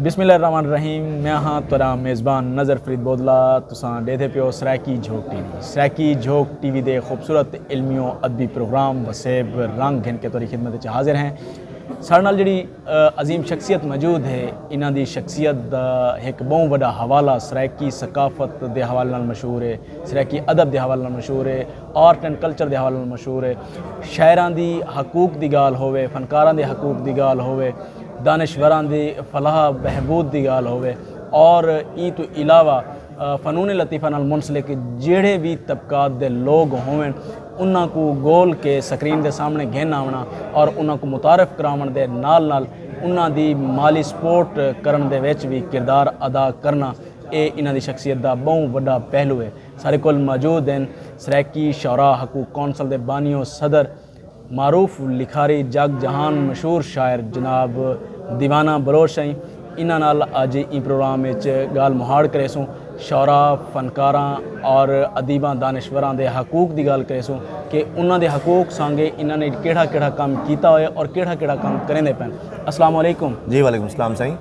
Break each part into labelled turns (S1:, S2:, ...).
S1: بسم اللہ الرحمن الرحیم میں ہاں تیرا میزبان نظر فرید بودلا تساں ڈیدھے پیو Saraiki Jhok T V Saraiki Jhok T V دے خوبصورت علمی و ادبی پروگرام وسیب رنگ گھن کے توری خدمت وچ حاضر ہیں سارے نال جڑی عظیم شخصیت موجود ہے انہاں دی شخصیت دا ایک بہوں وڈا حوالہ سرائیکی ثقافت دے حوالے نال مشہور ہے سرائیکی ادب دے حوالے نال مشہور ہے آرٹ اینڈ کلچر دے حوالے نال مشہور ہے شاعراں دی حقوق دی گال ہووے فنکاراں دے حقوق دی گال ہووے دانشوراں دی فلاح بہبود دی گال ہووے اور ایں توں علاوہ فنون لطیفہ نال منسلک جیڑھے وی طبقات دے لوگ ہوون انہاں کوں گول کے سکرین دے سامنے گھن آونا اور انہاں کوں متعارف کراون دے نال نال انہاں دی مالی سپورٹ کرن دے وچ وی کردار ادا کرنا اے انہاں دی شخصیت دا بہوں وڈا پہلو ہے ساڈے کول موجود ہن سرائیکی شعراء حقوق کونسل دے بانی و صدر معروف لکھاری جگ جہان مشہور شاعر جناب دیوانہ بلوچ سئیں انہاں نال اج ایں پروگرام اچ گالھ مہاڑ کریسوں شعراء فنکاراں اور ادیباں دانشوراں دے حقوق دی گالھ کریسوں کہ انہاں دے حقوق سانگے انہاں نے کیڑھا کیڑھا کم کیتا ہوئے اور کیڑھا کیڑھا کم کریندے پئن السلام علیکم جی وعلیکم السلام سائیں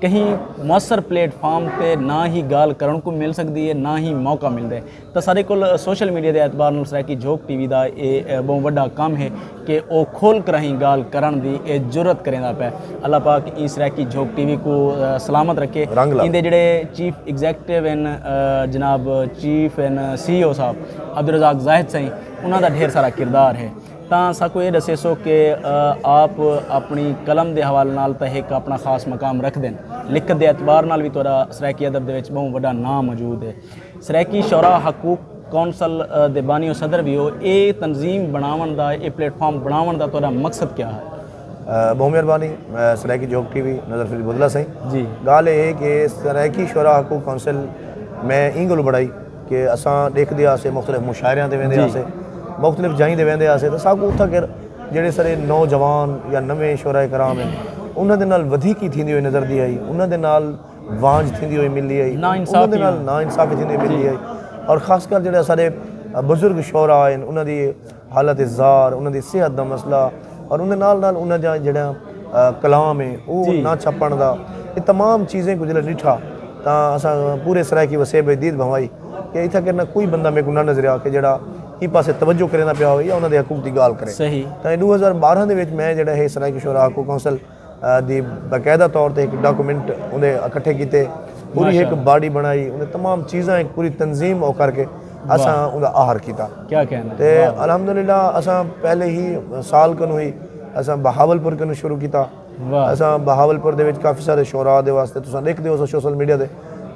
S1: کہیں موثر پلیٹ فارم تے نہ ہی گالھ کرن کوں مل سکدی ہے نہ ہی موقع ملدے تاں سارے کول سوشل میڈیا دے اعتبار نال سرائیکی جھوک ٹی وی دا اے بہوں وڈا کم ہے کہ او کھول کراہیں گالھ کرن دی جرات کریندا پئے اللہ پاک ایں سرائیکی جھوک ٹی وی کوں سلامت رکھے ایندے جیڑھے چیف ایگزیکٹو ہن جناب چیف ہن سی ای او صاحب عبدالرزاق زاہد سئیں انہاں دا ڈھیر سارا کردار ہے۔ تاں ساکوں ایہ ڈسیسو کہ آپ اپنی قلم دے حوالے نال تاں ہک اپنا خاص مقام رکھدن لکھت دے اعتبار نال وی تہاڈا سرائیکی ادب دے وچ بہوں وڈا ناں موجود ہے۔ سرائیکی شعراء حقوق کونسل دے بانی و صدر وی ہو۔ ایہ تنظیم بنڑاونڑ دا ایہ پلیٹ فارم بنڑاونڑ دا تہاڈا مقصد کیا ہے؟ بہوں مہربانی
S2: سرائیکی جھوک ٹی وی نظر فرید بدلہ سئیں۔ جی۔ گالھ ایہ ہے
S1: کہ
S2: سرائیکی شعراء حقوق کونسل میں ایں گلوں بنڑائی۔ کہ اساں ڈیکھدے ہاسے مختلف مشاعریاں تے ویندے ہاسے مختلف جائیں تے ویندے ہاسے تے ساکوں اتھاں کر جیڑے سارے نوجوان یا نویں شعراء کرام ہیں انہاں دے نال ودھیکی تھیندی ہوئی نظر دی آئی انہاں دے نال وانج تھیندی ہوئی ملی آئی انہاں دے نال ناانصافی تھیندی ہوئی ملی آئی اور خاص کر جیڑے سارے بزرگ شعراء ہیں انہاں دی حالت زار، انہاں دی صحت دا مسئلہ اور اوندے نال نال انہاں جاں جیڑھا کلام ہے او نہ چھپݨ دا اے تمام چیزیں کوں جلے ݙٹھا تاں اساں پورے سرائیکی وسیب اچ دید بھنوائی کہ اتھاں کر نہ کوئی بندہ میکوں نہ نظریا کہ جیڑھا ایں پاسے توجہ کریندا پیا ہووے یا انہاں دے حقوق دی ڳالھ کرے تاں ݙو ہزار
S1: ٻارہاں
S2: دے وچ میں جیڑھا ہے سرائیکی شعراء حقوق کونسل دی باقاعدہ طور تے ہک ڈاکومنٹ اوندے اکٹھے کیتے پوری ہک باڈی بنائی اوندے تمام چیزاں ہک پوری تنظیم او کر کے اساں اوندا آہر کیتا تے
S1: الحمدللہ
S2: اساں پہلے ہی سال کنوں ہوئی اساں بہاول پور کنوں شروع کیتا اساں بہاول پور دے وچ کافی سارے شعراء دے واسطے تساں ڈیکھ دیو سو شوسل میڈیا دے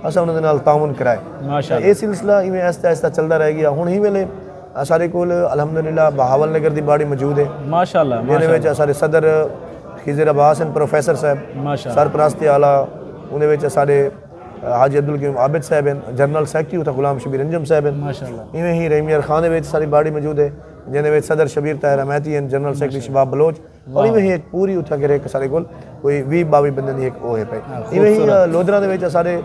S2: اساں انہاں دے نال تعاون کرائے اے سلسلہ ایویں ایستا ایستا چلدا رہ گیا ہن ہی ویلے اساݙے کول الحمدللہ بہاول نگر دی باڑی موجود ہے۔ ماشاءاللہ ماشاءاللہ۔ جیندے وچ
S1: اساݙے صدر
S2: خضر عباس ہن پروفیسر صاحب۔ ماشاءاللہ۔ سرپرست اعلی اوندے وچ اساݙے حاجی عبدالقیوم عابد صاحب ہن۔ جنرل سیکرٹری اتھاں غلام شبیر انجم صاحب ہن۔ ماشاءاللہ۔ ایویں ہی رحیم یار خان دے وچ اساݙی باڑی موجود ہے۔ جیندے وچ صدر شبیر طاہر امیتی ہن۔ جنرل سیکرٹری شباب بلوچ۔ اور ایویں ہی ایک پوری اتھاں کر ایک سارے کول کوئی وی باوی بندے دی ایک او ہے پئے ایویں ہی لودھراں دے وچ سارے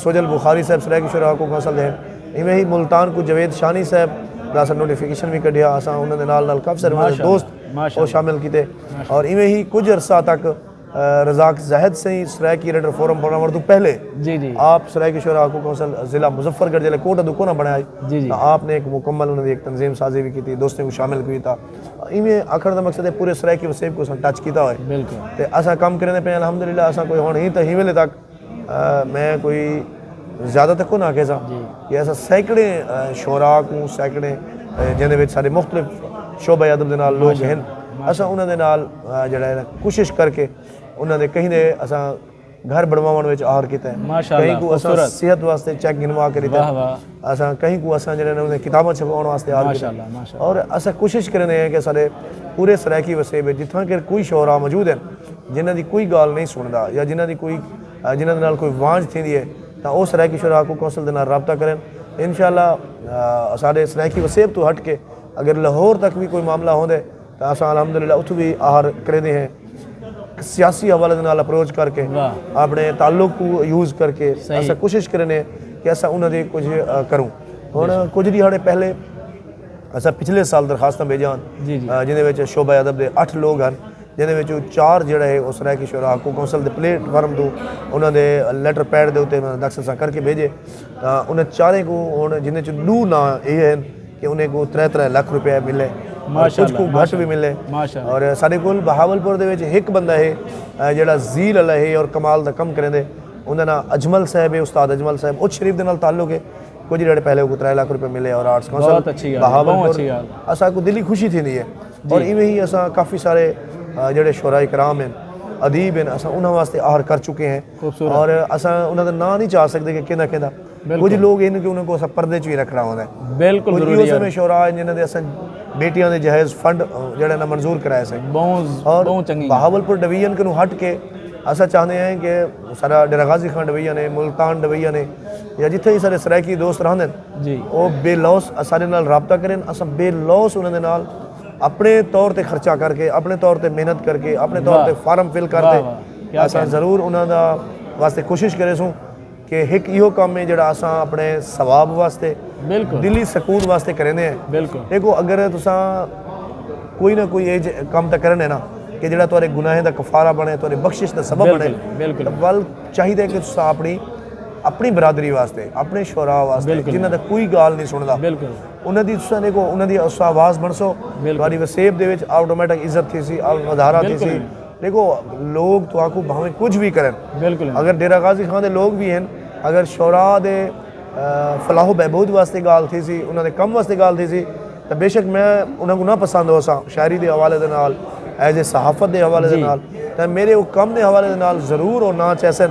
S2: سوجل بخاری صاحب سرائیکی شعرا حقوق کونسل دے ہیں ایویں ہی ملتان کو جوید شانی صاحب دا اساں نوٹیفیکیشن وی کڈھیا اساں انہاں دے نال نال کافی سارے انہاں دے دوست او شامل کیتے اور ایویں ہی کچھ عرصہ تک رزاق زاہد سئیں سرائیکی ریڈر فورم بناوڑ توں پہلے آپ سرائیکی شعرا حقوق کونسل ضلع مظفر گڑھ جلے کوٹہ دو کونہ بنائے آپ نے ایک مکمل انہاں دی ایک تنظیم سازی وی کیتی دوستیں کو شامل کیتا ایویں آکھن دا مقصد ہے پورے سرائیکی وسیب کو اساں ٹچ کیتا ہوئے تے اساں کم کریں دے پئے الحمدللہ اساں کوئی ہن ہی تاں ہی ویلے تک میں کوئی زیادہ تک کوئی نہ آکھے سا جی۔ کہ اساں سینکڑے شعراء کو سینکڑے جن دے وچ سارے مختلف شعبہ ادب دے نال لوگ ہیں اساں انہاں دے نال جڑا ہے کوشش کر کے انہاں دے کہیں دے اساں گھر بنواون وچ آہر کیتا ہے ماشاءاللہ کہیں کو اساں صحت واسطے چیک گنوا کے دیتا ہے اساں کہیں کو اساں جڑے نے کتاباں چھپاون واسطے آہر کیتا ہے اور اساں کوشش کرنے ہیں کہ سارے پورے سرائیکی وسیب ہے جتھاں کہ کوئی شعراء موجود ہیں جنہ دی کوئی گال نہیں سندا یا جنہ دی کوئی جنہ دے کوئی وانج تھی دی ہے تا او سرائیکی شعراء کو کونسل دے نال رابطہ کریں انشاءاللہ سارے سرائیکی وسیب تو ہٹ کے اگر لاہور تک بھی کوئی معاملہ ہوندے تو اساں الحمدللہ اتھوں وی آہر کریندے ہیں سیاسی حوالے دے نال اپروچ کر کے اپنے تعلق کو یوز کر کے اساں کوشش کریندے ہیں کہ اساں انہاں دی کچھ کروں ہن کچھ دیہاڑے پہلے اساں پچھلے سال درخواستاں بھیجاں جیندے وچ شعبہ ادب دے اٹھ لوگ ہن جیندے وچوں چار جیڑا ہے او سرائیکی شعراء کو کونسل دے پلیٹ فارم توں انہاں دے لیٹر پیڈ دے اوتے انہاں داخل اساں کر کے بھیجے تاں انہاں چاریں کوں ہن جیندے چوں ڈو ناں ایہے ہن کہ انہیں کوں ترے ترے لکھ روپے ملے کچھ کوں گھٹ بھی ملے اور ساڈے کول بہاول پور دے وچ ہک بندہ ہے جیڑا زیل والا ہے اور کمال دا کم کریندے انہاں ناں اجمل صاحب ہے استاد اجمل صاحب اچ شریف دے نال تعلق ہے کچھ جڑے پہلے کو ترے لکھ روپے ملے اور آرٹس کونسل بہاول پور اساں کو دلی خوشی تھی دی ہے اور ایویں ہی اساں کافی سارے جڑے شعراء کرام ہیں ادیب ہیں اساں انہاں واسطے آہر کر چکے ہیں اور اساں انہاں دا ناں نہیں چا سکدے کہ کیندا کیندا کچھ لوگ ہن کہ انہاں کو اساں پردے چ وی رکھنا ہوندا ہے بالکل ضروری ہے اساں شعراء جنہاں دے اساں بیٹیاں دے جہیز فنڈ جڑا نہ منظور کرائے سے اور بہاولپور ڈویژن کنو ہٹ کے اساں چاہندے ہیں کہ سارا ڈیرہ غازی خان ڈویژن ہے ملتان ڈویژن ہے یا جتھے ہی سارے سرائیکی دوست رہندے ہیں جی او بے لوس اساں دے نال رابطہ کرن اساں بے لوس انہاں دے نال اپنے طور تے خرچہ کر کے اپنے طور تے محنت کر کے اپنے طور تے فارم فل کر تے اساں ضرور انہاں دا واسطے کوشش کرے سوں کہ ہک ایہو کام ہے جڑا اساں اپنے ثواب واسطے دلی سکون واسطے کریں دے ہیں دیکھو اگر تساں کوئی نہ کوئی ایج کام تا کرنے نا کہ جڑا تورے گناہیں دا کفارہ بنے تورے بخشش دا سبب بنے ول چاہی دے کہ تساں اپنی اپنی برادری واسطے اپنے شعراء واسطے جنہ دا کوئی گال نہیں سندا انہاں دی تساں دیکھو انہاں دی اساں آواز بنسو تہاڈی وسیب دے وچ آٹومیٹک عزت تھیسی ودھارا تھیسی دیکھو لوگ تہاکوں بھاویں کچھ وی کرن اگر ڈیرہ غازی خان دے لوگ وی ہن اگر شعراء دے فلاح و بہبود واسطے گالھ تھیسی انہاں دے کم واسطے گالھ تھیسی تاں بیشک میں انہاں کوں نہ پسند ہوساں شاعری دے حوالے دے نال ایز اے صحافت دے حوالے دے نال تاں میڈے او کم دے حوالے دے نال ضرور او نہ چہسن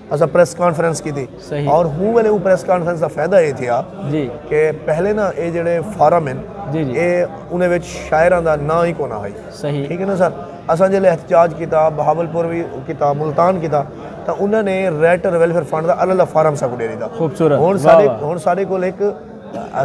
S2: اسا پریس کانفرنس کی تھی صحیح اور ہوں ویلے وہ پریس کانفرنس دا فائدہ یہ تھیا جی کہ پہلے نا اے جڑے فارم ہیں جی جی اے انہیں وچ شاعران دا نا ہی کونا ہائی صحیح ٹھیک ہے نا سر اسا جلے احتجاج کیتا بہاول پور بھی کیتا ملتان کیتا تا انہوں نے ریٹر ویلفر فنڈ دا اللہ اللہ فارم سا کو دے دیتا خوبصورت ہون سارے ہون سارے کو ایک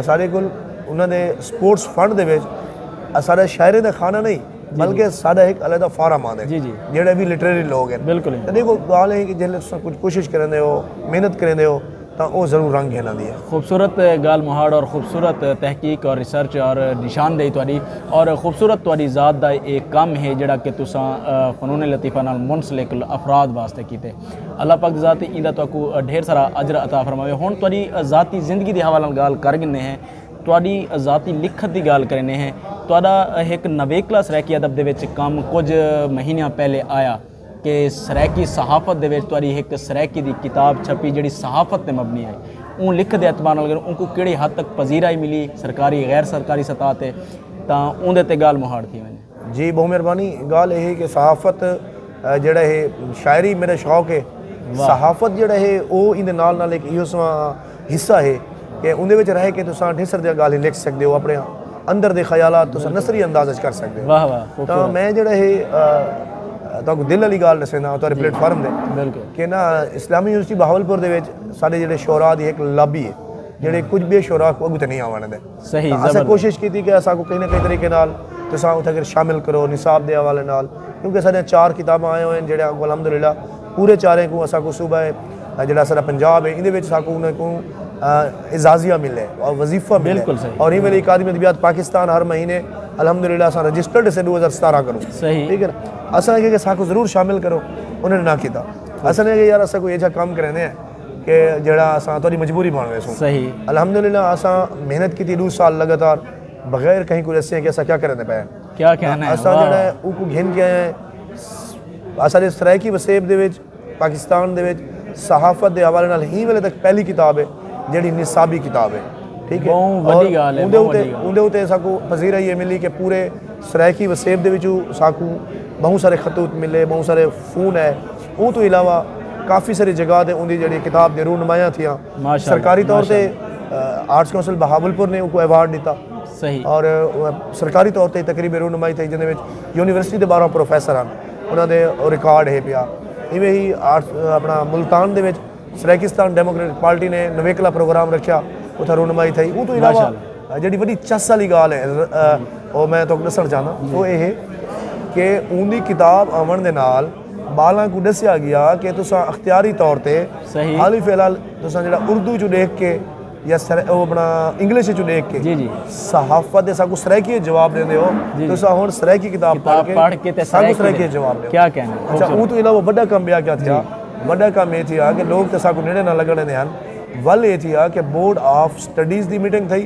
S2: سارے کو انہوں نے سپورٹس فنڈ دے وچ سارے شاعرے دا خانہ نہیں بلکہ ساڈا ایک علیحدہ فورم آندے جیڑے وی لٹریری لوگ ہن تے دیکھو گال اے کہ جیلے تساں کچھ کوشش کریندے ہو محنت کریندے ہو تاں او ضرور رنگ گھن آندی اے۔ خوبصورت گال مہاڑ اور خوبصورت تحقیق اور ریسرچ اور نشاندہی تہاڈی اور خوبصورت تہاڈی ذات دا اے کم ہے جیڑا کہ تساں فنون لطیفہ نال منسلک افراد واسطے کیتے۔ اللہ پاک ذات ایندا تہاکوں ڈھیر سارا اجر عطا فرماوے۔ ہن تہاڈی ذاتی زندگی دے حوالے نال گال کر گھننے ہیں۔ تہاݙی ذاتی لکھت دی ڳالھ کریندے ہیں، تہاݙا ہک نویکلا سرائیکی ادب دے وچ کم کجھ مہینیاں پہلے آیا کہ سرائیکی صحافت دے وچ تہاݙی ہک سرائیکی دی کتاب چھپی جیڑھی صحافت تے مبنی ہئی، اوں لکھت دے اعتبار نال اگر اونکوں کیڑھی حد تک پذیرائی ملی سرکاری، غیر سرکاری سطح تے تاں اوندے تے ڳالھ مہاڑ تھی ونڄے۔ جی بہت مہربانی گال اے ہے کہ صحافت جڑا ہے شاعری میرا شوق ہے صحافت جڑا ہے او ایندے نال نال ایک ایو سواں حصہ ہے کہ اوندے وچ رہ کے تساں ڈھیر سر دے گال لکھ سکدے ہو اپنے اندر دے خیالات تساں نثری انداز وچ کر سکدے ہو واہ واہ تو میں جڑا ہے تو کو دل علی گال نسینا تو پلیٹ فارم دے بالکل کہ نا اسلامی یونیورسٹی بہاولپور دے وچ سارے جڑے شعراء دی ایک لابی ہے جڑے کچھ بے شعراء کو اگتے نہیں آوانے دے صحیح اساں کوشش کیتی کہ اساں کو کہیں نہ کہیں طریقے نال تساں اتھے کر شامل کرو نصاب دے حوالے نال کیونکہ ساڈیاں چار کتاباں آئے ہوئے ہیں جڑے کو الحمدللہ پورے چاریں کو اساں کو صوبہ جڑا سارا پنجاب ہے ایندے وچ اساں کو انہیں کو اعزازیہ ملے اور وظیفہ ملے اور ہی ویلے اکادمی ادبیات پاکستان ہر مہینے الحمدللہ اساں رجسٹرڈ سے دو ہزار ستارہ کرو صحیح ٹھیک ہے اساں کہ اساں کو ضرور شامل کرو انہیں نہ کیتا اساں نے کہ یار اساں کو یہ جا کام کرنے ہیں کہ جڑا اساں تہاڈی مجبوری بن ویسوں صحیح الحمدللہ
S1: اساں
S2: محنت کیتی ڈو سال لگاتار بغیر کہیں کو دسے کہ اساں کیا کرنے پے کیا کہنا ہے اساں
S1: جڑا ہے او کو گھن
S2: کے آئے اساں دے سرائیکی وسیب دے وچ پاکستان دے وچ صحافت دے حوالے نال ہی ویلے تک پہلی کتاب ہے جڑی نصابی کتاب ہے ٹھیک ہے وڈی گال ہے
S1: اون دے اوتے اساں کو
S2: پذیرائی یہ ملی کہ پورے سرائیکی وسیب دے وچوں اساں کو بہت سارے خطوط ملے بہت سارے فون ہے اوں توں علاوہ کافی ساری جگہ تے اوندی جیڑھی کتاب دے روح نمایاں تھیاں۔ سرکاری طور تے آرٹس کونسل بہاولپور نے اوکوں ایوارڈ ݙتا۔ اور
S1: سرکاری طور
S2: تے تقریب روح نمائی تھئی جیندے وچ یونیورسٹی دے ٻارہاں پروفیسر ہن۔ انہاں دے او ریکارڈ ہے پیا۔ ایویں ہی اپنا ملتان دے وچ سرائیکستان ڈیموکریٹک پارٹی نے نویکلا پروگرام رکھیا۔ اتھاں روح نمائی تھئی۔ اوں توں علاوہ جیڑھی وݙی چس آلی ڳالھ ہے او میں تہاکوں ݙسݨ چاہنداں او اے ہے کہ اوندی کتاب آوݨ دے نال ٻالاں کوں ݙسیا ڳیا کہ تساں اختیاری طور تے صحیح حالی فی الحال تساں جڑا اردو چوں ݙیکھ کے یا سر او اپنا انگلش چوں ݙیکھ کے جی جی صحافت
S1: دے ساکوں
S2: سرائیکی جواب دیندے ہو جی تساں ہن سرائیکی کتاب پڑھ کے پڑھ کے تے ساکوں سرائیکی جواب دیو کیا کہنا اچھا اون تو
S1: علاوہ بڑا
S2: کم بیا کیا تھیا بڑا کم اے تھیا کہ لوگ تے ساکوں نیڑے نہ لگن دیندے ہن ول اے تھیا کہ بورڈ آف سٹڈیز دی میٹنگ تھئی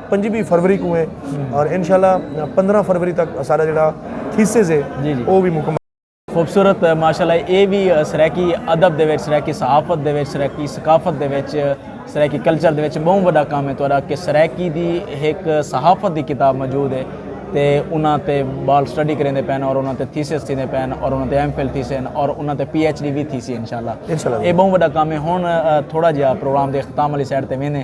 S2: پنجیبی فروری کوں ہے اور انشاءاللہ پندرہ فروری تک اساڈا جڑا تھیسز ہے او وی مکمل۔ خوبصورت
S1: ماشاءاللہ اے وی سرائیکی ادب دے وچ سرائیکی صحافت دے وچ سرائیکی ثقافت دے وچ سرائیکی کلچر دے وچ بہوں وڈا کم ہے تہاڈا کہ سرائیکی دی ہک صحافت دی کتاب موجود ہے تے انہاں تے بال سٹڈی کریندے پئے ہن اور انہاں تے تھیسز تھیندے پئے ہن اور انہاں تے ایم فل تھیسے ہن اور انہاں تے پی ایچ ڈی وی تھیسی انشاءاللہ اے بہوں وڈا کم ہے ہن تھوڑا جیہا پروگرام دے اختتام آلی سائیڈ تے ویندے۔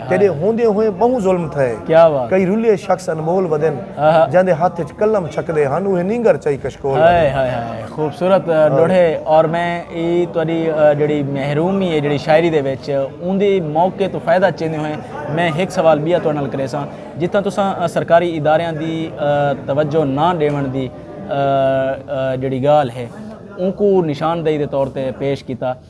S2: تیݙے ہوندیں ہوئیں ٻہوں ظلم تھئے۔ کئی رلھے
S1: شخص انمول
S2: ودن جیندے ہتھ اچ قلم چھکدے ہن اوہے نینگر چائی کشکول ودن۔ ہائے ہائے ہائے
S1: خوبصورت ݙوہے اور میں اے تہاݙی جیڑھی محرومی ہے جیڑھی شاعری دے وچ اوندے موقع توں فائدہ چیندے ہوئیں میں ہک سوال ٻیا تہاݙے نال کریساں جتھاں تساں سرکاری اداریاں دی توجہ نہ ݙیوݨ دی جیڑھی ڳالھ ہے اونکوں نشاندہی دے طور تے پیش کیتا۔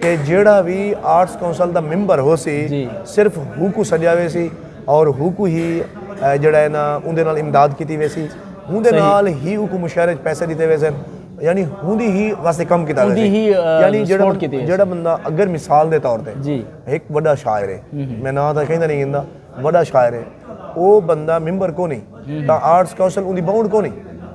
S2: تے جیڑھا وی آرٹس کونسل دا ممبر ہوسی صرف ہوکوں سڈیا ویسی اور ہوکوں ہی جیڑھا ہے نا اوندے نال امداد کیتی ویسی ہوندے نال ہی اوکوں مشاعرے اچ پیسے دیتے ویسن یعنی ہوندی ہی واسطے کم کیتا ویسی یعنی جیڑھا بندہ اگر مثال دے طور تے ہک وڈا شاعر ہے میں نا تاں کہندا نہیں گندا وڈا شاعر ہے او بندہ ممبر کونی تاں آرٹس کونسل اوندی باؤنڈ کونی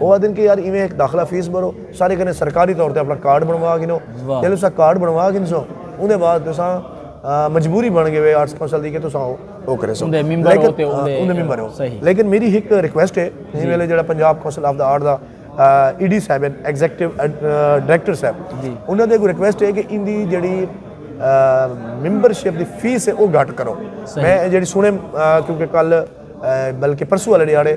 S2: او آدھن کہ یار ایویں ہک داخلہ فیس بھرو سارے کنے سرکاری طور تے اپنا کارڈ بنوا گھنو جیلے تساں کارڈ بنوا گھنسو اوندے بعد تساں مجبوری بن گئے ہوئے آرٹس کونسل دی کہ تساں او کرے سو اوندے ممبر ہو تے اوندے ممبر ہو لیکن میری ہک ریکویسٹ ہے جی ویلے جڑا پنجاب کونسل آف دا آرٹ دا ای ڈی صاحب ہیں ایگزیکٹو ڈائریکٹر صاحب جی۔ انہاں دے کو ریکویسٹ ہے کہ ان دی جڑی ممبر شپ دی فیس ہے او گھٹ کرو میں جڑی سنے کیونکہ کل بلکہ پرسو والے ڈیارے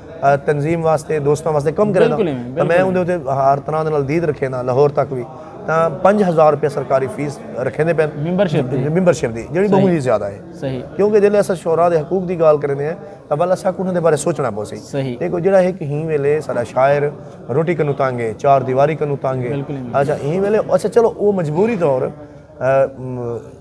S2: تنظیم واسطے دوستاں واسطے کم کرے دا تاں میں اوندے اتے ہر طرح دے نال دید رکھے دا لاہور تک وی تاں پنج ہزار روپیہ سرکاری فیس رکھے دے پین ممبرشپ دی ممبرشپ دی جڑی بہت ہی زیادہ ہے صحیح کیونکہ جلے اسا
S1: شورا
S2: دے حقوق دی گال کرنے ہیں تاں والا سا کوں دے بارے سوچنا پو سی صحیح ایک جڑا ہے کہ ہی ویلے سارا شاعر روٹی کنو تانگے چار دیواری کنو تانگے اچھا ہی ویلے اچھا چلو وہ مجبوری طور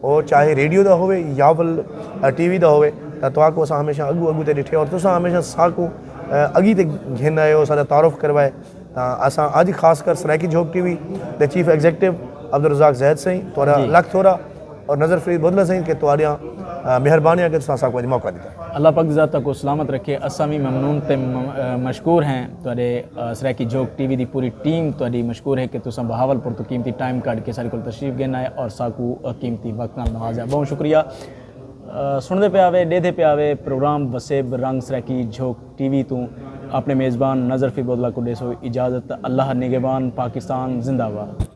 S2: او چاہے ریڈیو دا ہووے یاول ٹی وی دا ہووے تاں تہاکوں اساں ہمیشہ اڳوں اڳوں تے ݙٹھے اور تساں ہمیشہ ساکوں اڳی تے گھن آئے او ساݙا تعارف کروائے تاں اساں اڄ خاص کر سرائیکی جھوک ٹی وی دے چیف ایگزیکٹو عبدالرزاق زید سئیں تہاݙا لکھ تھورا اور نظر فرید بدلہ سئیں کہ تہاݙیاں مہربانیاں کہ تساں ساکوں اڄ موقع ݙتا۔ اللہ پاک ذاتہ کو
S1: سلامت رکھے اساں وی ممنون تے مشکور ہیں تہاڈے سرائیکی جھوک ٹی وی دی پوری ٹیم تہاڈی مشکور ہے کہ تساں بہاول پور تو قیمتی ٹائم کڈھ کے ساڈے کول تشریف گھن آئے اور ساکو قیمتی وقت نال نوازیا بہوں شکریہ سنڑدے پیا وے ڈیدھے پیا وے پروگرام وسیب رنگ سرائیکی جھوک ٹی وی توں اپنے میزبان نظر فی بودلہ کو ڈیسو اجازت اللہ نگہبان پاکستان زندہ باد